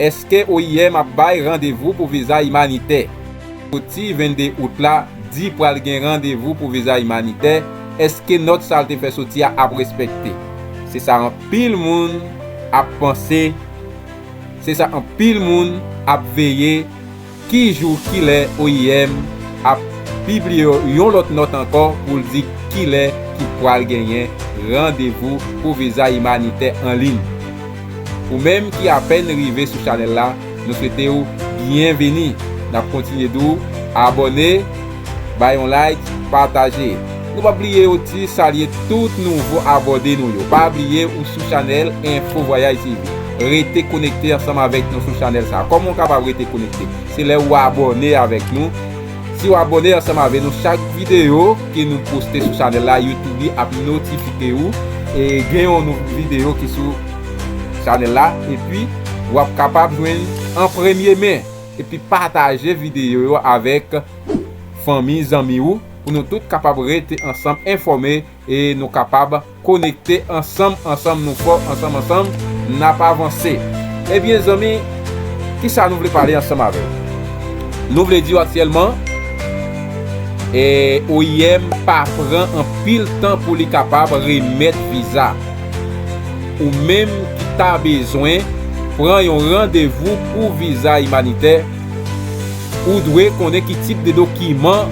Eske oim ap bay randevou pou viza imanitè? Foti 22 out la di pral gen randevou pou viza imanitè, eske nòt sa l te fè soti a ap respekte? Se sa anpil moun ap panse, se sa anpil moun ap veye. Ki jou, ki lè oim ap pibliye yon lòt nòt ankò pou l di ki lè ki pral genyen randevou pou viza imanitè an liy? Ou menm ki apèn rive sou chanèl la, nou swete w byenvini! N ap kontinye di w abòne! Bay yon like, pataje. Nou pap bliye oti salye tout nouvo abòde nou yo. Pa bliye ou sou chanèl Info Voyage TV. Rete konekte ansanm avèk nou sou chanèl sa. Kòman ou kapab rete konekte? Se lè ou abòne avèk nou. Si ou abòne ansanm avè nou chak videyo ke nou poste sou chanèl la YouTube ap notifike ou e gen yon nouvo videyo ki sou chanèl la epi wap kapab jwenn an premye men. Epi pataje videyo yo avèk fanmi zanmi ou pou nou tout kapab rete ansanm enfòme e nou kapab konekte ansanm ansanm nou fò ansanm ansanm nap avanse ebyen zanmi kisa nou vle pale ansanm avèw nou vle diw aktyèlman e oim pa pran anpil tan pou li kapab remèt viza. Ou menm ki ta bezwen pran yon randevou pou viza imanitè, ou dwe konnen ki tip de dokiman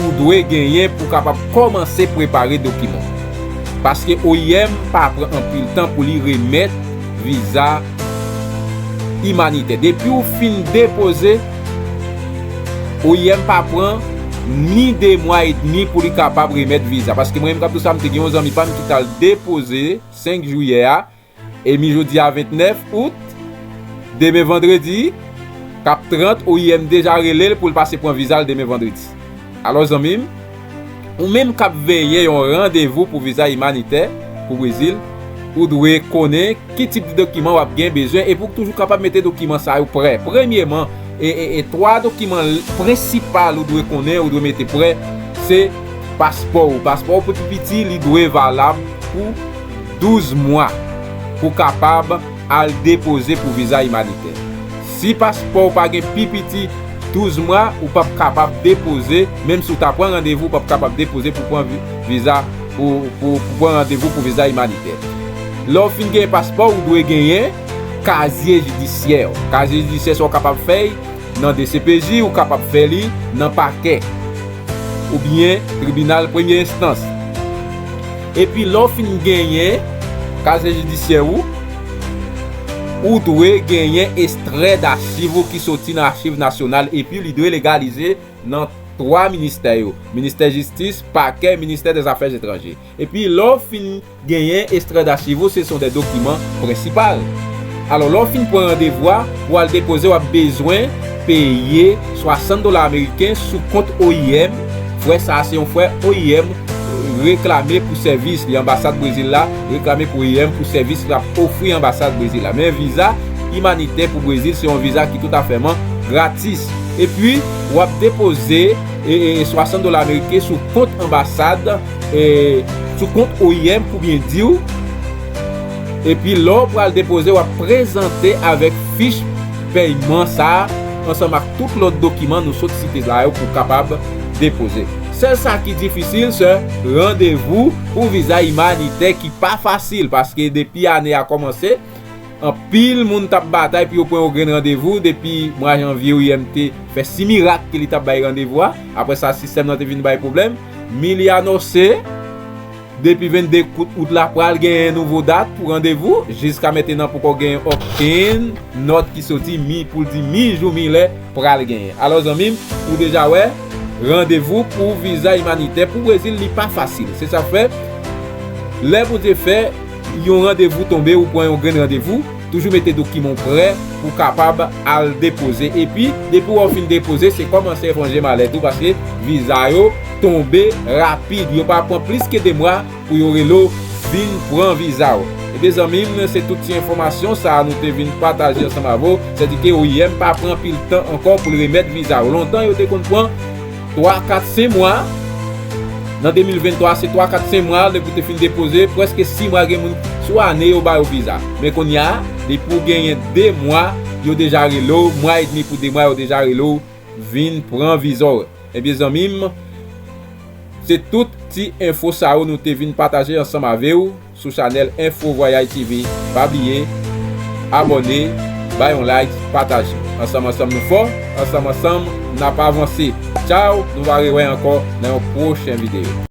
ou dwe genyen pou kapab kòmanse prepare dokiman. Paske oim pa pran anpil tan pou li remèt viza imanitè. Depi ou fin depoze. Oim pa pran ni 2 mwa e demi pou li kapab remèt viza paske mwen menm kap di sa mte gen yon zanmi pam ki tal depoze 5 jiyè a e mi jodi a 29 out demen vandredi kap 30 oim deja relel poul pase pran vizal demen vandredi alò zanmim Ou menm k ap veye yon randevou pou viza imanitè pou Brezil, ou dwe konnen ki tip de dokiman w ap gen bezwen epi w toujou kapab mete dokiman sa yo prè. Premyeman, e 3 dokiman prensipal ou dwe konnen ou dwe mete prè se paspò ou. Paspò ou pou pi piti li dwe valab pou 12 mwa pou kapab. Al depoze pou viza imanitè. Si paspò ou pa gen pi piti 12 mwa, ou pap kapab depoze, menm si ou ta pran randevou ou pap kapab depoze pou pran viza pou pou pran randevou pou viza imanitè. Lè ou fin genyen paspò ou dwe genyen kazye jidisyè ou. Kazye jidisyè sa ou kapab fèy nan dcpj, ou kapab fè li nan pakè oubyen tribinal premye enstans. Epi lè w fin genyen kazye jidisyè ou, ou dwe genyen estrè dachiv ou ki soti nan Achiv Nasyonal epi li dwe legalize nan twa ministè yo, Ministè Jistis, Pakè, Ministè dè Zafè Etranje. Epi lè w fin genyen estrè dachiv ou, se son dè dokiman prensipal. Alò lè w fin pran randevou a pou al depoze w ap bezwen. peye 60 dola ameriken sou kont oim, frè sa a se yon frè oim reklame pou sèvis li anbasad Brezil la reklame pou oim pou sèvis l ap ofri anbasad Brezil la men viza imanitè pou Brezil se yon viza ki toutafèman gratis epi w ap depoze 60 dola ameriken sou kont anbasad sou kont oim pou byen di w epi lè w pral depoze w ap prezante avèk fich fèy man sa a ansanm ak tout lòt dokiman nou sot site la yo pou w kapab depoze. Sèl sa ki difisil se randevou pou viza imanitè ki pa fasil paske depi ane a kòmanse anpil moun t ap batay pou yo pran yon grenn randevou depi mwa janvye oim te fè si mirak ke li t ap bay randevou a apre sa sistèm nan te vin bay pwoblèm Miliano se. Depi 22 kout out la pral genyen nouvo dat pou randevou, jiska mentenan poko genyen okenn nòt ki soti mi poul di mi jou mi lè pral genyen. Alò zanmim ou deja wè randevou pou viza imanitè pou Brezil li pa fasil se sak fè lè Bondye fè yon randevou tonbe ou pran yon grenn randevou, Toujou mete dokiman w prè pou w kapab al depoze epi depi wè w fin depoze se kòmanse eponje malèt ou paske viza yo tonbe rapid yo pa pran plis ke 2 mwa pou yo rele w vin pran viza w. Ebyen zanmi m se tout ti enfòmasyon sa nou te vin pataje ansanm avè w sèdike oim pa pran anpil tan ankò pou l remèt viza w lontan yo te konn pran 3, 4, 5 mwa, nan 2023 se 3, 4, 5 mwa depi w te fin depoze, prèske 6 mwa gen moun sou ane yo ba yo viza. Men kounya depi w genyen 2 mwa yo deja rele w, mwa edmi pou 2 mwa yo deja rele w vin pran viza w. Ebyen zanmi m, se tout ti enfo sa yo nou te vin pataje ansanm ave w. sou chanèl info vwayay TV pa bliye abòne bay yon like pataje ansanm ansanm nou fò ansanm ansanm nap avanse tchaww nou va rewè ankò nan yon pwochen video.